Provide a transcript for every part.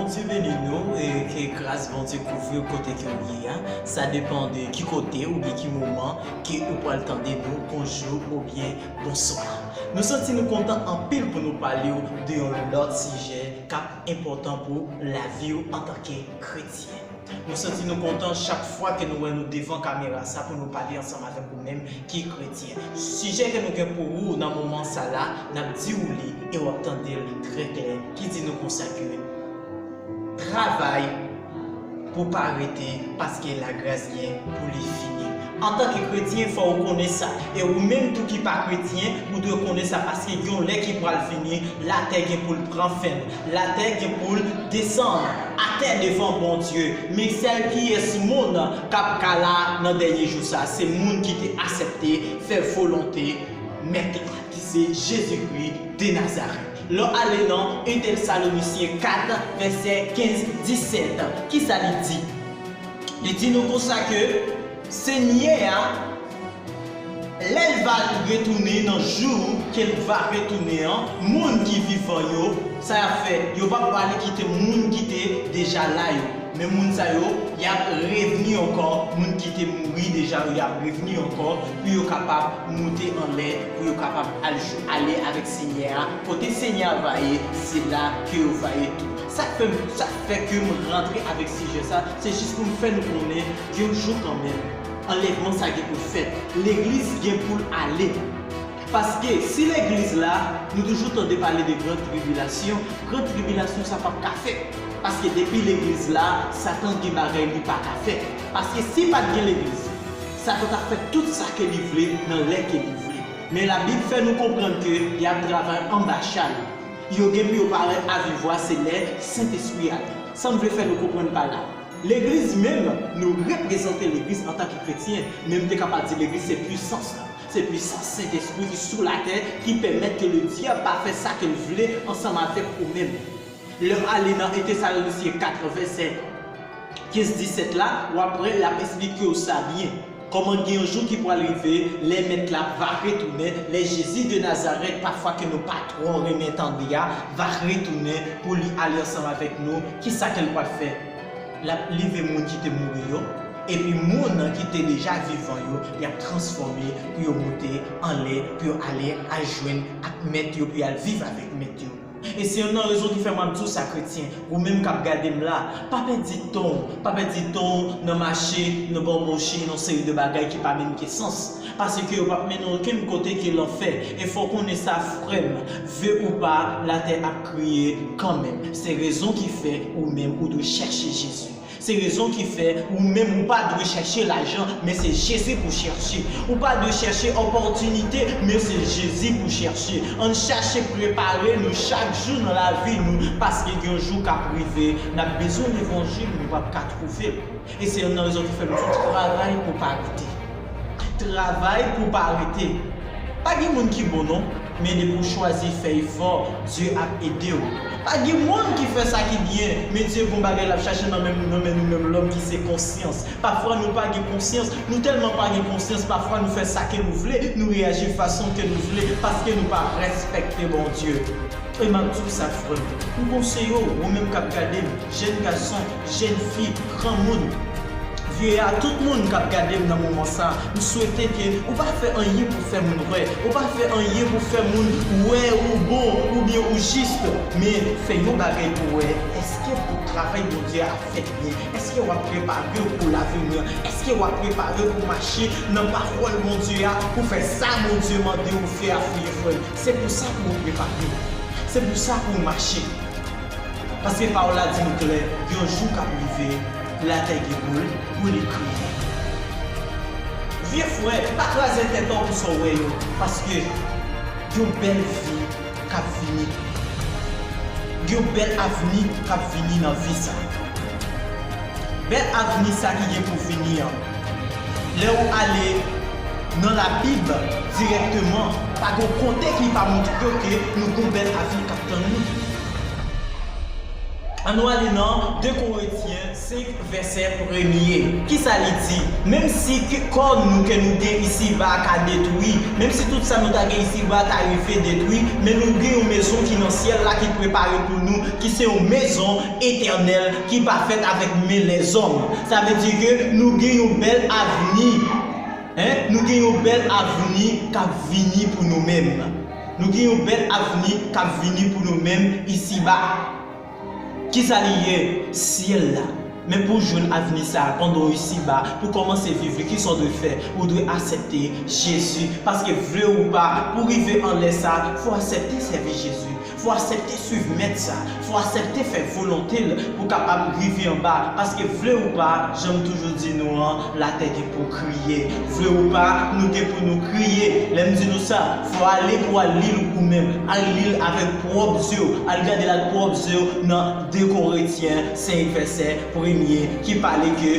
Bondye beni nou e ke gras Bondye kouvriw kote ke ou ye a, sa depan de ki kote oubyen ki moman ke ou pral tande nou bonjou oubyen bonswa. Nou santi nou kontan anpil pou nou palew de yon lòt sijè kap enpòtan pou laviw antanke kretyen. Nou santi nou kontan chak fwa ke nou wè nou devan kamera sa pou nou pale ansanm avèk ou menm ki kretyen. Sijè ke nou gen pou ou nan moman sa la, nap di ou li e wap tandel trè klè ki di nou konsa ke travay pou pa rete paske lagras gen pou li fini. Antanke kretyen, fò ou konnen sa. E ou menm tou ki pa kretyen, ou dwe konnen sa paske gen yon lè ki pral vini, latè gen pou l pran fen l. Latè gen pou l desann atè devan Bondye. Men sèl kiyès moun k ap ka la nan dènye jou sa a? Se moun ki te asèpte fè volonte Mèt la, ki se Jezi Kri de Nazarèt. Lè w ale nan 1 Tèsalonisyen 4, vèsè 15, 17, ki sa li di? Li di nou konsa ke Senyè a, lè l va retounen nan jou ke l va retounen an, moun ki vivan yo, sa y ap fè? Yo p ap prale kite moun ki te deja la yo, men moun sa yo, y ap revni ankò, moun ki te mouri deja yo, y ap revni ankò pou yo kapab moute anlè, pou yo kapab ale avèk Senyè a. Kote Senyè a va ye, se la ke yo va ye tou. Sak fè m, sak fè ke m rantre avèk sijè sa, se jis pou m fè nou konnen gen yon jou kanmenm anlèvman sa gen pou l fèt. Legliz gen pou l ale. Paske si legliz la, nou toujou tande pale de gran tribilasyon, gran tribilasyon sa pap ka fèt. Paske depi legliz la, satan gen bagay li pa ka fè. Paske si pat gen legliz, satan tap fè tout sa ke li vle nan lè ke li vle. Men labib fè nou konprann ke yap travay anba chal. Yo gen pou yo pare a viv voix se lè Sentespri a vin. Sam vle fè nou konprann pa la. Legliz menm, nou reprezante legliz antan ke kretyen, men m te ka pa di legliz se pwisans la. Se pwisans Sentespri ki sou latè ki pèmèt ke le dyab pa fè sa ke l vle ansanm avèk ou menm. Lè w ale nan 1 Tesalonicien 4 vèsè 15, 17 la, w ap wè l ap esplike w sa byen. Kòman gen yon jou ki pwal rive lè mèt la va retounen, lè Jezi de Nazarèt pafwa ke nou pa twò renmen tande a va retounen pou li ale ansanm avèk nou, kisa ke l pwal fè? L ap leve moun ki te mouri yo, epi moun ki te deja vivan yo y ap transfòme pou yo moute anlè pou yo ale al jwenn ak mèt yo pou y al viv avèk mèt yo. E se yonn nan rezon ki fè m ap di w sa kretyen, ou menm k ap gade m la, pa pèdi tan w, pa pèdi tan w nan mache, nan banboche yon seri de bagay ki pa menm gen sans, paske yo p ap mennen w okenn kote ke lanfè, e fò w konnen sa frè m, ve ou pa, latè ap kriye kanmenm, se rezon ki fè ou menm ou dwe chèche Jezi. Se rezon ki fè ou menm ou pa dwe chèche lajan, men se Jezi pou chèche. Ou pa dwe chèche opòtinite, men se Jezi pou chèche. Ann chache prepare nou chak jou nan lavi nou, paske gen yon jou k ap rive, n ap bezwen levanjil, nou p ap ka twouve l. E se youn nan rezon ki fè m di travay pou w pa rete. Travay pou w pa rete. Pa gen moun ki bon non. Men depi w chwazi fèy fò, Dye ap ede w. Pa gen moun ki fè sa ki byen, men Dye gon bagay l ap chache nan men nou menm lòm ki se konsyans. Pafwa nou pa gen konsyans, nou tèlman pa gen konsyans pafwa nou fè sa ke nou vle, nou reyaji fason ke nou vle paske nou pa respekte Bondye. E m ap di w sa frè m, m konseye w, ou menm k ap gade m, jèn gason, Jèn fi, granmoun, vye a tout moun kap gadem nan moman sa, m swete ke ou pa fè anyen pou fè moun wè, ou pa fè anyen pou fè moun wè ou bon oubyen ou jis, men fè yon bagay pou wè eske pou travay Bondye a ap fèt byen, eske wap preparew pou laveni an, eske wap preparew pou mache nan pawòl Bondye a, pou fè sa Bondye mandew fè a fouye fwèl, se pou sa pouw preparew, se pou sa pouw mache. Paske pawòl la di nou klè, yon jou kap rive, latè gen pou l, pou li kriye. Vye frè, pa kraze tèt ou pou sa w wè yo, paske yon bèl vi kap vini tou. Gen yon bèl avni kap vini nan vi sa. Bèl avni sa ki gen pou vini an, Lè ou ale Nan la bib dirèkteman pa gon kote ki pa moutrew ke nou gon bèl avni kap tann nou. An nou ale nan 2 korentyen 5 vèsè premye kisa li di menm si kò nou ke nou gen isi ba ka detwi menm si tout sa nou ta gen isi ba ta rive detwi men nou gen yon mezon ki nan syèl la ki prepare pou nou ki se yon mezon etènèl ki pa fèt avèk men lèzòm. Sa vle di ke nou gen yon bèl avni, en, nou gen yon bèl avni k ap vini pou nou menm. Nou gen yon bèl avni k ap vini pou nou menm isiba. Ki sa li ye? Syèl la. Men pou w jwenn avni sa a pandan w isiba, pou w kòmanse viv li, ki sa w dwe fè? Ou dwe asepte Jezi. Paske vle ou pa, pou w rive anlè sa a, fò w asepte sèvi Jezi. Fò asèpte swiv mèt sa, fò asèpte fè volonte l pou kapab rive anba paske vle ou pa, jan m toujou di nou an, latè gen pou kriye. Vle ou pa, nou gen pou nou kriye. Lè m di nou sa, fò ale pou al li l ou menm, al li l avèk pwòp zye w, al gade l ak pwòp zye w nan 2 Koretyen 5 vèsè premye ki pale ke,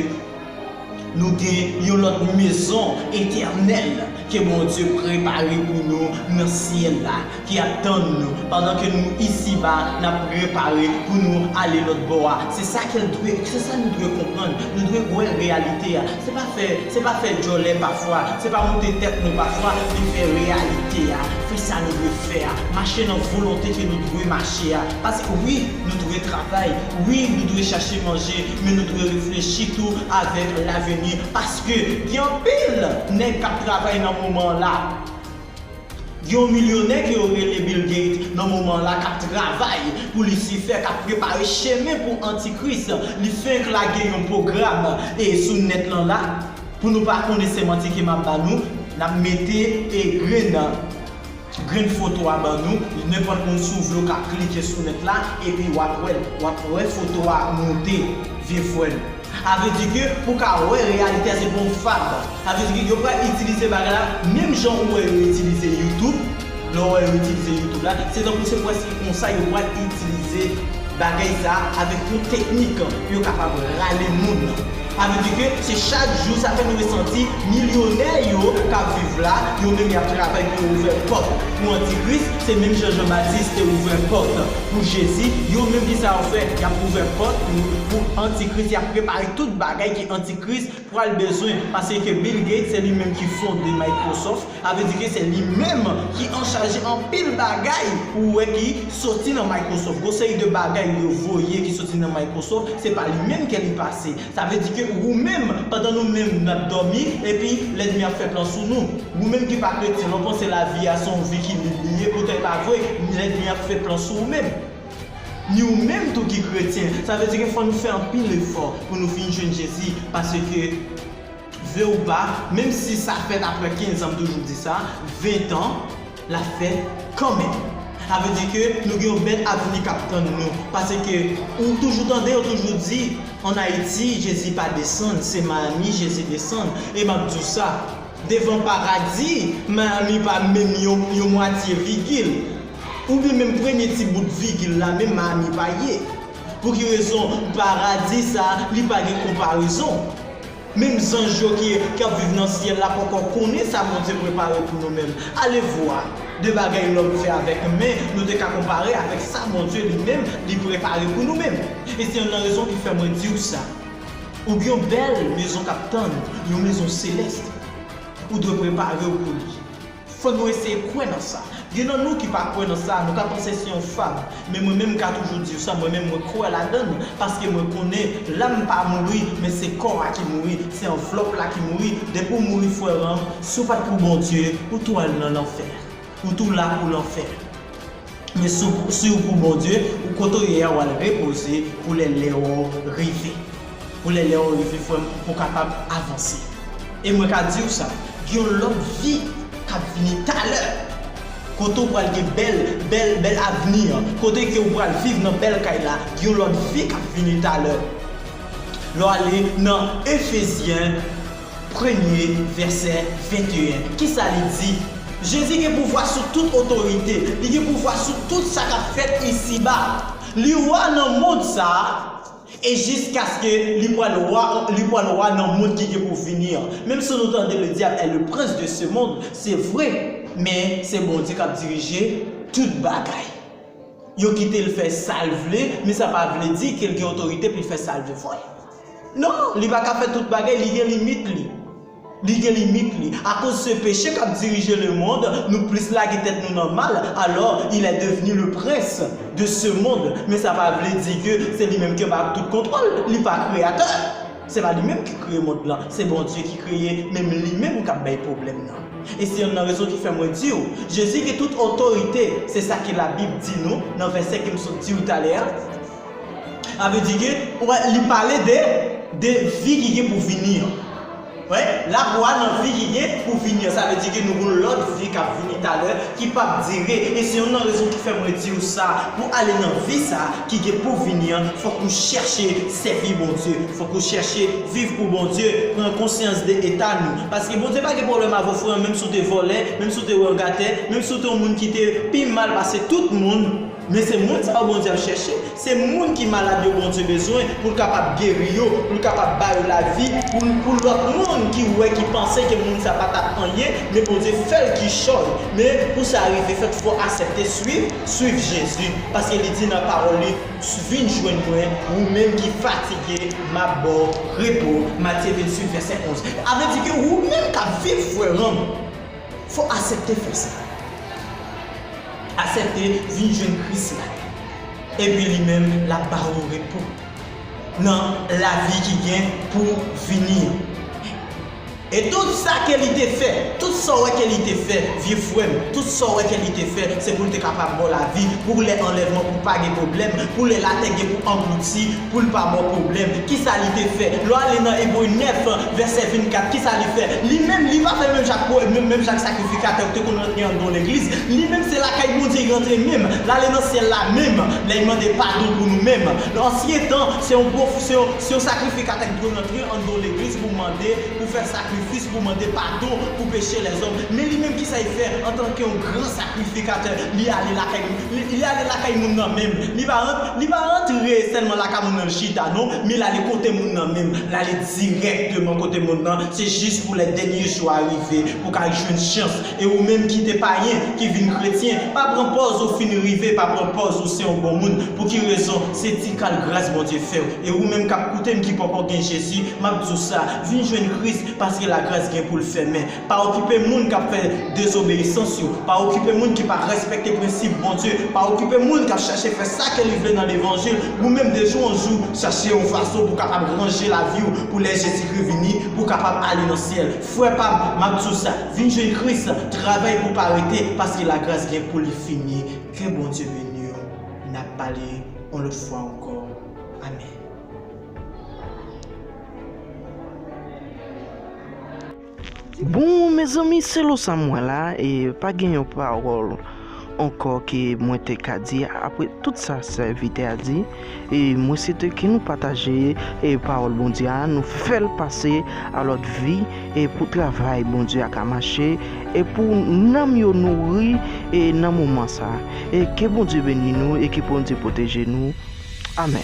Nou gen yon lòt mezon etènèl ke Bondye prepare pou nou nan syèl la ki ap tann nou pandan ke nou isi ba n ap prepare pou nou ale lòt bò a. Se sa ke l dwe, se sa nou dwe konprann. Nou dwe wè reyalite a. Se pa fè, se pa fè djòlè pafwa, se pa moute tèt nou pafwa, men fè reyalite a, fè sa nou dwe fè a, mache nan volonte ke nou dwe mache a. Paske wi, nou dwe travay, wi, nou dwe chache manje, Men nou dwe reflechi tou avèk laveni paske gen anpil nèg kap travay nan moman an la. Gen yon milyonè ke yo rele Bill Gates nan moman an la kap travay pou lisifè kap prepare chemen pou antikris li fenk lage yon pwogram e sou nèt lan la pou nou pa konnen se manti ke map ba nou nap mete e grenn Grenn foto a ban nou, nenpòt moun si w vle w ka klike sou link la epi wap wè l, wap wè foto a ap moute vye frè m. Sa vle di ke pou w ka wè reyalite a se pou yon fab, sa vle di ke yo pral itilize bagay la menm jan ou wè yo itilize youtube, lè w wè yo itilize youtube la se tankou se prèske konsa yo pral itilize bagay sa avèk yon teknik pou yo kapab rale moun. Sa vle di ke se chak jou, sa fè nou resanti milyonè yo k ap viv la, yo menm y ap travay pou yo ouvè pòt pou antikris, se menm jan Jan Batis te ouvè pòt pou Jezi, yo menm ki sa yo fè, y ap ouvè pòt pou antikris, y ap prepare tout bagay ke antikris pral bezwen, pase ke Bill Gates se li menm ki fonde Microsoft, Sa vle di ke se li menm ki anchaje anpil bagay ou wè ki soti nan Microsoft. Gon seri de bagay yo voye ki soti nan Microsoft, se pa li menm ke li pase. Sa vle di ke ou menm, pandan nou menm nap dòmi, epi lènmi ap fè plan sou nou. Ou menm ki pa kretyen, lè w panse lavi a se yon vi ki lib li ye, poutan e pa vre, lènmi ap fè plan sou ou menm. Ni ou menm tou ki kretyen. Sa vle di ke fò nou fè anpil efò pou nou vin jwenn Jezi, paske. Vle ou pa, menm si sa fèt aprè 15 an m toujou di sa, 20 tan, l ap fèt kanmenm. Sa vle di ke nou gen yon bèl avni k ap tann nou. Paske ou toujou tande yo toujou di an Ayiti Jezi pa desann, se Miami Jezi desann. E m ap di w sa, devan paradi Miami pa menm yon mwatye vigil, oubyen menm premye ti bout vigil la menm Miami pa ye. Pou ki rezon paradi sa li pa gen konparezon. Menm zanj yo ki ap viv nan syèl la poko konnen sa Bondye prepare pou nou menm. Alevwa! De bagay lòm fè avèk men nou te ka konpare avèk sa Bondye li menm li prepare pou nou menm. E se yonn nan rezon ki fè mwen di ou sa. Ou gen yon bèl mezon k ap tann ou, yon mezon selès. Ou dwe prepare ou pou li. Fò nou eseye kwè nan sa. Gen nan nou ki pa kwè nan sa, nou ka panse se yon fab. Men mwen menm m ka toujou diw sa, mwen menm mwen kwè ladann, paske mwen konnen Lam pa mouri, men se kò a ki mouri, se anvlòp la ki mouri, depi w mouri frè Ram, si w pat pou Bondye, ou tou al nan lanfè. Ou tou la pou lanfè. Men si w pou Bondye, ou kote w ye a wal repoze pou lè lè w rive. Pou lè lè w rive frè m pou w kapab avanse. E mwen ka di w sa, gen yon lòt vi kap vini talè. Kote w pral gen bèl, bèl, bèl avni an. Kote ke w pral viv nan bèl kay la. Gen yon lòt vi kap vini talè. Lè w ale nan Efezyen. Premye vèsè 21, ki sa li di? Jezi gen pouvwa sou tout otorite. Li gen pouvwa sou tout sa k ap fèt isiba. Li Wa nan mond sa a e jiskaske li pral wa li pral wa nan mond ki gen pou vini an. Menm si nou tande le dyab è le prens de se mond, se vre, men se Bondye k ap dirije tout bagay. Yo kite l fè sa l vle, men sa pa vle di ke l gen otorite pou l fè sa l vle. Non, li pa ka fè tout bagay, li gen limit li. Li gen limit li. Akoz se peche kap dirije le mond, nou plis lage tèt nou nan mal, alò, il est devenu le prince de ce monde. Men sa pa vle di ke se li menm ki anba tout kontwòl, li pa kreyatè. Se pa li menm ki kreye mond lan, se Bondye ki kreye, men li menm kap bay pwoblèm nan. E se yonn nan rezon ki fè mwen diw, Jezi gen tout otorite, se sa ke labib di nou nan vèsè kem sot diw talè a. Sa vle di ke, ou wè, li pale de, de vi ki gen pou vini an. Ou wè, l ap wa nan vi ki gen pou vini an. Sa vle di ke nou gen yon lòt vi k ap vini talè, ki p ap dire. E se youn nan rezon ki fè mwen di ou sa, pou ale nan vi sa a ki gen pou vini an, fòk ou chèche sèvi Bondye. Fòk ou chèche viv pou Bondye, pran konsyans de eta nou. Paske Bondye pa gen pwoblèm avè w, frè an, menm si w te vòlè, menm si w te wè yon gatè, menm si w te yon moun ki te pi mal pase tout moun, Men se moun sa yo Bondye ap chèche. Se moun ki malad yo Bondye bezwen pou l kapab geri yo, pou l kapab ba yo lavi, pou lòt moun ki wè, ki panse ke moun sa pa t ap anyen, men Bondye fè l kichòy. Men, pou sa rive fèt, fò w asèpte suiv, suiv Jezi. Paske li di nan pawòl li, Vin jwenn mwen, ou menm ki fatige, m ap ba w repo, Matye 28, vèsè 11. A vle di ke ou menm k ap viv, frè ranm, Fò asepte fè sa. Asepte vin jwenn Kris la. Epi li menm lap ba ou repo. Nan lavi ki gen pou vini an. E tout sa ke li te fè. Tout sa ou wè ke li te fè vye frèm. Tout sa ou wè ke li te fè se pou l te kapab ba w lavi pou lè anlèvman pou pa gen pwoblèm. Pou lè latè gen pou anglouti. Pou l pa bon pwoblèm, ki sa li te fè? Lè w ale nan Ebre 9, vèsè 24, ki sa li fè? Li menm, li pa fè menm jan ak powèt menm, menm jan ak sakrifikatè yo ki te konn rantre andon legliz. Li menm, se lakay Bondye li rantre menm. L ale nan syèl la menm, lè li mande padon pou nou menm. Nan ansyen tan, se yon pwo, se yon, se yon sakrifikatè ki dwe rantre andon legliz pou mande, pou fè sakrifis, pou mande padon pou peche lèzòm. Men li menm, ki sa li fè? Antanke yon gran sakrifikatè, li ale lakay. Li ale lakay moun nan menm. Li pa rant, li pa rantre sèlman lakay moun nan chita non, men l ale kote moun nan menm. L ale dirèkteman kote moun nan, se jis pou lè dènye jou a rive, pou ka jwenn chans. E ou menm ki te payen, ki vin kretyen, pa pran pòz ou fin rive, pa pran pòz ou se yon bon moun. Pou ki rezon? Se ti kal gras Bondye fè w. E ou menm k ap koute m ki poko gen Jezi, m ap di w sa, vin jwenn Kris, paske lagras gen pou l fèmen. Pa okipe moun k ap fè dezobeyisans yo. Pa okipe moun ki pa rèspèkte prensip Bondye. Pa okipe moun k ap chache fè sa ke li vle nan levanjil. Ou menm de jou an jou, chache yon fason pou w kapab ranje lavi w pou lè Jezikri vini, pou w kapab ale nan syèl. Frè pa m, m ap di w sa, vin jwenn Kris, travay pou w pa rete, paske lagras gen pou li fini. Ke Bondye beni w. N ap pale yon lòt fwa ankò. Amèn. Bon mezanmi selo sa m wè la e pa gen yon pawòl ankò ke mwen te ka di apre tout sa sèvitè a di e mwen swete ke nou pataje e pawòl Bondye a nou fèl pase a lòt vi e pou travay Bondye a ka mache e pou nanm yo nouri e nan moman sa e ke Bondye beni nou e ke Bondye pwoteje nou. Amen.